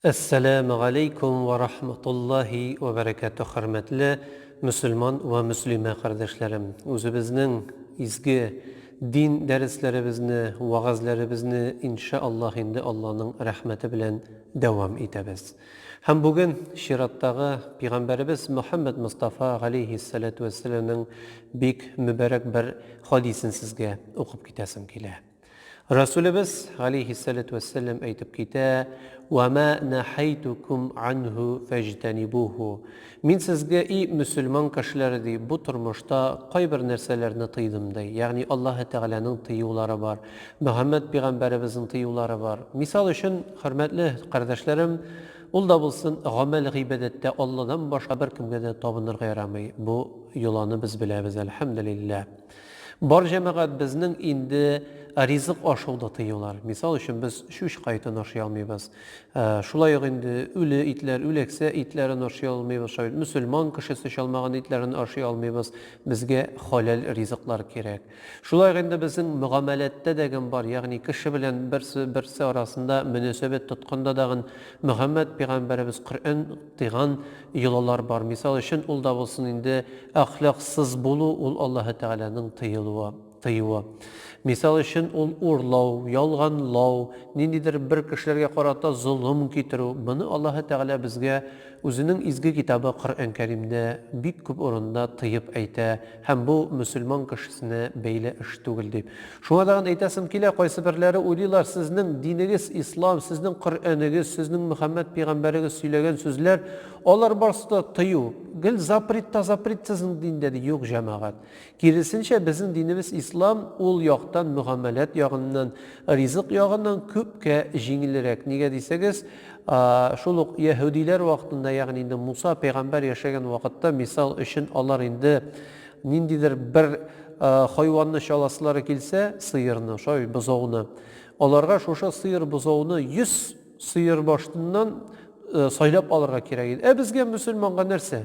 Әссәләмү галәйкүм вә рахматуллаһи вә бәрәкәтүһ Хөрмәтле мөселман вә мөслимә кардәшләрем! Үзебезнең изге дин дәресләребезне, вәгазьләребезне иншә Аллаһ инде Алланың рәхмәте белән дәвам итәбез. Һәм бүген чираттагы Пигамбәребез Мөхәммәд Мостафа галәйһиссәләтү вәссәләмнең бик мөбарәк бер хәдисен сезгә укып китәсем килә. Расулебез, галәйһиссәләтү вәссәләм, әйтеп китә, Вә мә нәһәйтүкүм анһу фәҗтәнибуһу. Мин сезгә, и мөселман кешеләре, ди, бу тормышта кайбер нәрсәләрне тыйдым, ди. Ягъни Аллаһы Тәгаләнең тыюлары бар, Мөхәммәд пигамбәребезнең тыюлары бар. Мисал өчен, хөрмәтле кардәшләрем, ул да булсын гамәл-гыйбадәттә Алладан башка беркемгә дә табынырга ярамый. Бу йоланы без беләбез, әлхәмдүлилләһ. Бар җәмәгатьбезнең инде ризык ашау да тыюлар. Мисал өчен, без чүч кайтын ашый алмыйбыз. Шулай ук инде үле итләр, үләксә итләрен ашый алмыйбыз. Шулай бит, мөселман кешесе чалмаган итләрен ашый алмыйбыз. Безгә халәл ризыклар кирәк. Шулай ук инде безнең мөгамәләттә дәгем бар, ягъни кеше белән берсе, берсе арасында мөнәсәбәт тотканда дагын Мөхәммәд пигамбәребез Коръән, Тыйган йолалар бар. Мисал өчен, ул да булсын инде әхлаксыз булу, ул Аллаһы Тәгаләнең тыелуы, тыюы. Мисал өчен, ул урлау, ялганлау, ниндидер бер кешеләргә карата золым китерү. Моны Аллаһы Тәгалә безгә Үзенең изге китабы Коръән Кәримдә бик күп урында тыеп әйтә. Һәм бу мөселман кешесенә бәйле эш түгел, дип. Шуңа тагын әйтәсем килә, кайсыберләре уйлыйлар, сезнең динегез ислам, сезнең Коръәнегез, сезнең Мөхәммәд пигамбәрегез сөйләгән сүзләр, алар барысы да тыю, гел запрет та запрет сезнең диндә, ди. Юк, җәмәгать. Киресенчә, безнең динебез ислам, ул яктан, мөгамәләт ягыннан, ризык ягыннан күпкә җиңелрәк. Нигә дисәгез, Шул ук яһүдиләр вакытында, ягъни инде Муса пәйгамбәр яшәгән вакытта, мисал өчен, алар инде ниндидер бер хайванны чаласылары килсә, сыерны, шай, бозауны, аларга шушы сыер, бозауны 100 сыер башыннан сайлап алырга кирәк иде. Ә безгә, мөселманга нәрсә?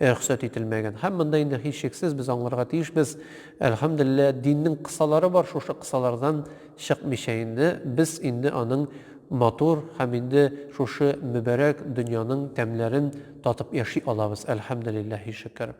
рөхсәт ителмәгән. Һәм монда инде һичшиксез без аңларга тиешбез, әлхәмдүлилләһ, диннең кысалары бар, шушы кысалардан чыкмыйча инде, без инде аның матур һәм инде шушы мөбарәк дөньяның тәмнәрен татып яши алабыз, әлхәмдүлилләһи шөкер.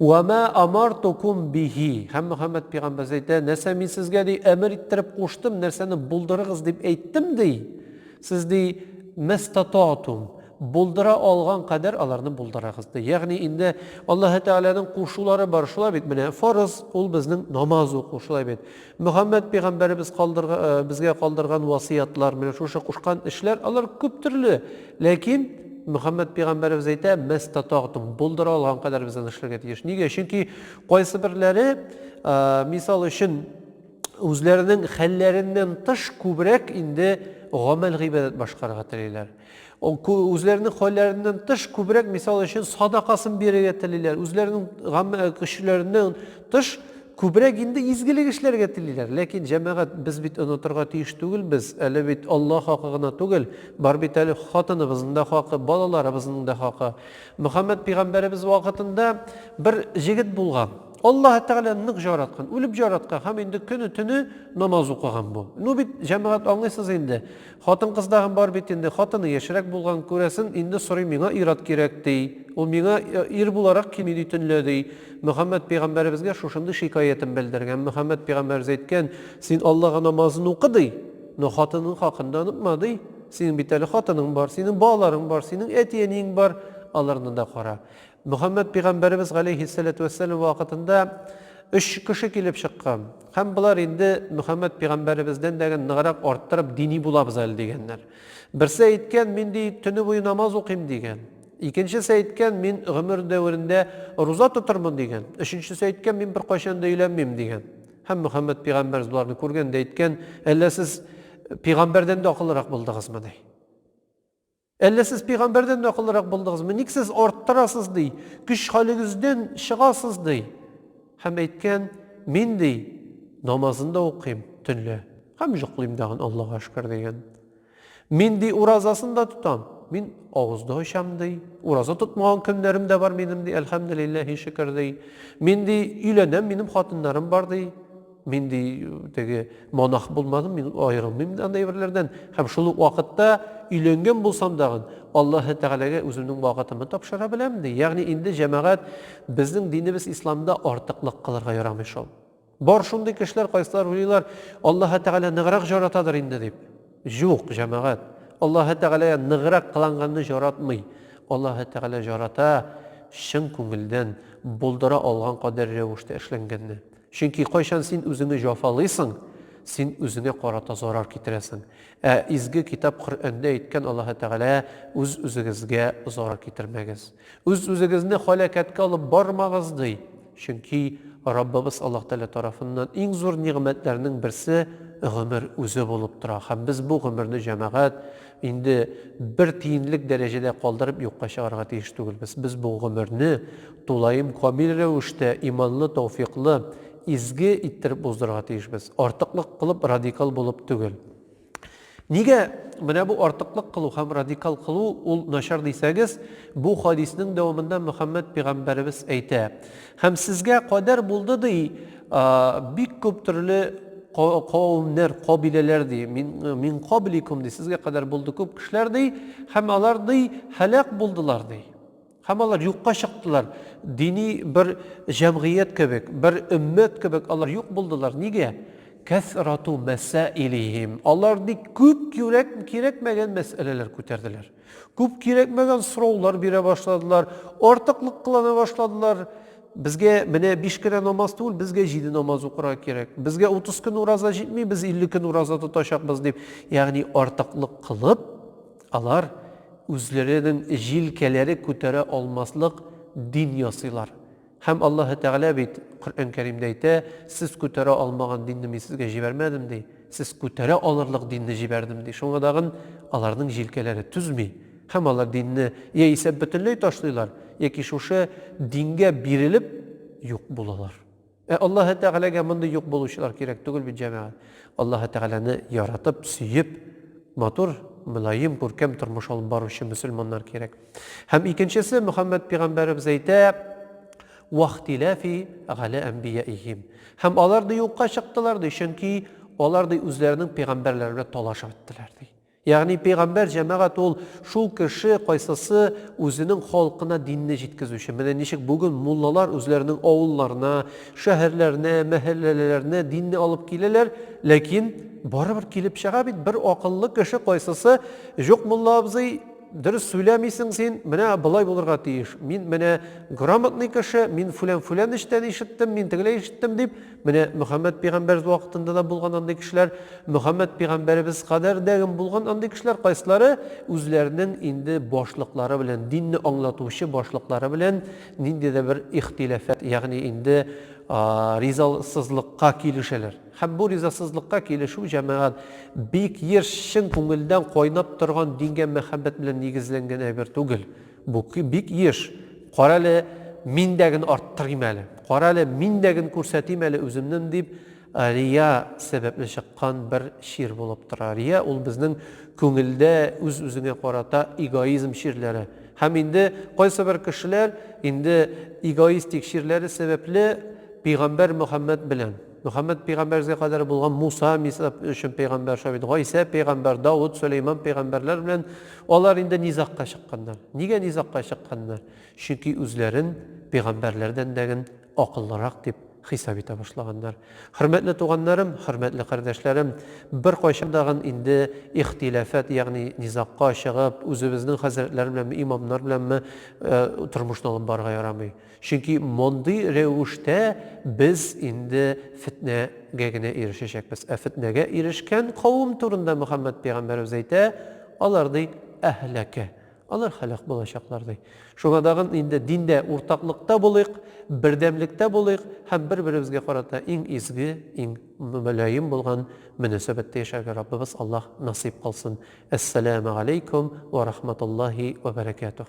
Уә мә амартукум биһи, һәм Мөхәммәд пигамбәз әйтә, нәрсә мин сезгә, ди, әмер иттереп куштым, нәрсәне булдырыгыз дип әйттем, ди, Сез, ди, мәстататум, булдыра алган кадәр аларны булдырыгыз, ди. Ягъни инде Аллаһы Тәгаләнең кушулары бар, шулай бит, менә фарыз, ул безнең намаз уку, шулай бит. Мөхәммәд пәйгамбәребез калдырга, безгә калдырган васыятлар, менә шушы кушкан эшләр, алар күп төрле. Ләкин Мөхәммәд пәйгамбәребез әйтә, мәстататум, булдыра алган кадәр без аны эшләргә тиеш. Нигә? Чөнки кайсыберләре, мисал өчен, үзләренең хәлләреннән тыш күбрәк инде гамәл гыйбадәт башкарырга телиләр. Үзләренең хәлләреннән тыш күбрәк мисал өчен садакасын бирергә телиләр. Үзләренең көчләреннән тыш күбрәк инде изгелек эшләргә телиләр. Ләкин җәмәгать без бит онытырга тиеш түгел без. Әле бит Алла хакы гына түгел, бар бит әле хатыныбызның да хакы, балаларыбызның да хакы. Мөхәммәд пигамбәребез вакытында бер җегет булган. Аллаһы Тәгалә нык жараткан, үлеп жараткан һәм инде көне-төне намаз укыган бу. Ну бит, җәмәгать, аңлыйсыз инде. Хатын-кыз тагын бар бит инде, хатыны яшьрәк булган, күрәсен, инде сорый, миңа ир-ат кирәк, ди. Ул миңа ир буларак кими, ди төнлә, ди. Мөхәммәд пәйгамбәребезгә шушындый шикаятен белдергән. Мөхәммәд пәйгамбәребез әйткән, Син Аллага намазын укы, ди, но хатының хакын да онытма, ди. Синең бит әле хатының бар, синең балаларың бар, синең әти-әниең бар, аларны да кара. Мөхәммәд пигамбәребез галәйһиссәләтү вәссәлам вакытында өч кеше килеп чыккан һәм болар инде Мөхәммәд пигамбәребездән дә ныграк арттырып дини булабыз әле дигәннәр. Берсе әйткән, мин ди төне буе намаз укыйм дигән. Икенчесе әйткән, мин гомер дәверендә руза тотырмын дигән. Өченчесе әйткән, мин беркайчан да өйләнмим дигән. Һәм Мөхәммәд пигамбәребез боларны күргән дә әйткән, әллә сез пигамбәрдән дә акыллырак булдыгызмы ди. Әллә сез пигамбәрдән дә акыллырак булдыгызмы? Ник сез арттырасыз, ди, көч халегездән чыгасыз, ди. Һәм әйткән, Мин, ди, намазын да укыйм төнлә һәм йоклыйм дагын, Аллага шөкер, дигән. Мин, ди, уразасын да тотам, мин авыз да ачам, ди. Ураза тотмаган көннәрем дә бар минем, ди, әлхәмделилләһи шөкер, ди. Мин, ди, өйләнәм, минем хатыннарым бар, ди. Мин ди теге монах булмадым, мин аерылмыйм ди андый әйберләрдән. Һәм шул ук вакытта өйләнгән булсам дагын, Аллаһы Тәгаләгә үземнең вакытымны тапшыра беләм ди. Ягъни инде, җәмәгать, безнең динебез Исламда артыклык кылырга ярамый шул. Бар шундый кешеләр, кайсылар уйлыйлар, Аллаһы Тәгалә ныграк җаратадыр инде дип. Юк, җәмәгать, Аллаһы Тәгалә ныграк кыланганны җаратмый. Аллаһы Тәгалә җарата чын күңелдән, булдыра алган кадәр рәвештә эшләнгәнне. Чөнки кайчан син үзеңне җафалыйсың, син үзеңә карата зарар китерәсең. Ә изге китап Коръәндә әйткән Аллаһы Тәгалә, үз-үзегезгә зарар китермәгез. Үз-үзегезне һәлакәткә алып бармагыз, ди. Чөнки Раббыбыз Аллаһ Тәгалә тарафыннан иң зур нигъмәтләрнең берсе гомер үзе булып тора. Һәм без бу гомерне җәмәгать, Инде бер тиенлек дәрәҗәдә калдырып юкка чыгарга тиеш түгелбез. Без бу гомерне тулаем камил рәвештә, иманлы, тәүфыйклы, изге иттереп уздырырга тиешбез. Артыклык кылып, радикал булып түгел. Нигә менә бу артыклык кылу һәм радикал кылу ул начар дисәгез, бу хадиснең дәвамында Мөхәммәд пигамбәребез әйтә, Һәм сезгә кадәр булды, ди, бик күп төрле кавемнәр, кабиләләр, ди, мин кабликум, ди, сезгә кадәр булды күп кешеләр, ди, һәм алар, ди, һәлак булдылар, ди. Һәм алар юкка чыктылар. Дини бер җәмгыять кебек, бер өммәт кебек алар юк булдылар. Нигә? Кәсрату мәсәилихим. Алар, ди, күп кирәкмәгән мәсьәләләр күтәрделәр. Күп кирәкмәгән сораулар бирә башладылар, артыклык кылана башладылар. Безгә менә биш кенә намаз түгел, безгә җиде намаз укырга кирәк. Безгә утыз көн ураза җитми, без илле көн ураза тотачакбыз, дип, ягъни артыклык кылып, алар үзләренең җилкәләре күтәрә алмаслык дин ясыйлар. Һәм Аллаһы Тәгалә бит Коръән Кәримдә әйтә, Сез күтәрә алмаган динне Мин сезгә җибәрмәдем, ди. Сез күтәрә алырлык динне җибәрдем, ди. Шуңа тагын аларның җилкәләре түзми һәм алар динне яисә бөтенләй ташлыйлар, яки шушы дингә бирелеп юк булалар. Ә Аллаһы Тәгаләгә мондый юк булучылар кирәк түгел бит, җәмәгать. Аллаһы Тәгаләне яратып, сөеп, матур, мөлаем, күркәм тормыш алып баручы мөселманнар кирәк. Һәм икенчесе, Мөхәммәд пигамбәребез әйтә, Вахтиләфи галә әмбияихим. Һәм алар ди юкка чыктылар ди, чөнки алар ди үзләренең пигамбәрләре белән талашып иттеләр ди. Ягъни пигамбәр җәмәгать ул шул кеше, кайсысы үзенең халкына динне җиткезүче. Менә ничек бүген муллалар үзләренең авылларына, шәһәрләренә, мәһәлләләренә динне алып киләләр, ләкин барыбер килеп чыга бит бер акыллы кеше, кайсысы, Җук мулла абзый, Дөрес сөйләмисең син, менә болай булырга тиеш. Мин менә грамотный кеше, мин фүлән-фүлән эштән ишеттем, мин тегеләй ишеттем дип, менә Мөхәммәд пигамбәр вакытында да булган андый кешеләр, Мөхәммәд пигамбәребез кадәр дә булган андый кешеләр, кайсылары үзләренең инде башлыклары белән, динне аңлатучы башлыклары белән нинди дә бер ихтилафәт, ягъни инде ризасызлыкка килешәләр. Һәм бу ризасызлыкка килешү җәмәгать бик еш чын күңелдән кайнап торган дингә мәхәббәт белән нигезләнгән әйбер түгел. Бу бик еш, Карале, мин дә ген арттырыйм әле, карале, мин дә ген күрсәтим әле үземнен дип рия сәбәпле чыккан бер чир булып тора. Рия ул безнең күңелдә үз-үзеңә карата эгоизм чирләре. Һәм инде кайсыбер кешеләр инде эгоистик чирләре сәбәпле пигамбәр Мөхәммәд белән. Мөхәммәд пәйгамбәргзгә кадәр булган Муса, Мисра өчен пәйгамбәр шулай бит, Гайсә пәйгамбәр, Давыт, Сөләйман пәйгамбәрләр белән алар инде низагка чыкканнар. Нигә низагка чыкканнар? Чөнки үзләрен пәйгамбәрләрдән дәген акыллырак дип хисап итә башлаганнар. Хөрмәтле туганнарым, хөрмәтле кардәшләрем, беркайчан дагын инде ихтиләфәт, ягъни низагка чыгып, үзебезнең хәзрәтләр беләнме, имамнар беләнме тормышны алып барырга ярамый. Чөнки мондый рәвештә без инде фетнәгә генә ирешәчәкбез. Ә фетнәгә ирешкән кавым турында Мөхәммәд пәйгамбәребез әйтә, алар, ди, әһләкә, алар һәлак булачаклар, ди. Шуңа тагын инде диндә уртаклыкта булыйк, бердәмлектә булыйк һәм бер-беребезгә карата иң изге, иң мөлаем булган мөнәсәбәттә яшәргә Раббыбыз Аллаһ насыйп кылсын. Әссәләмәгаләйкүм вә рахматуллаһи вә бәрәкәтүһ.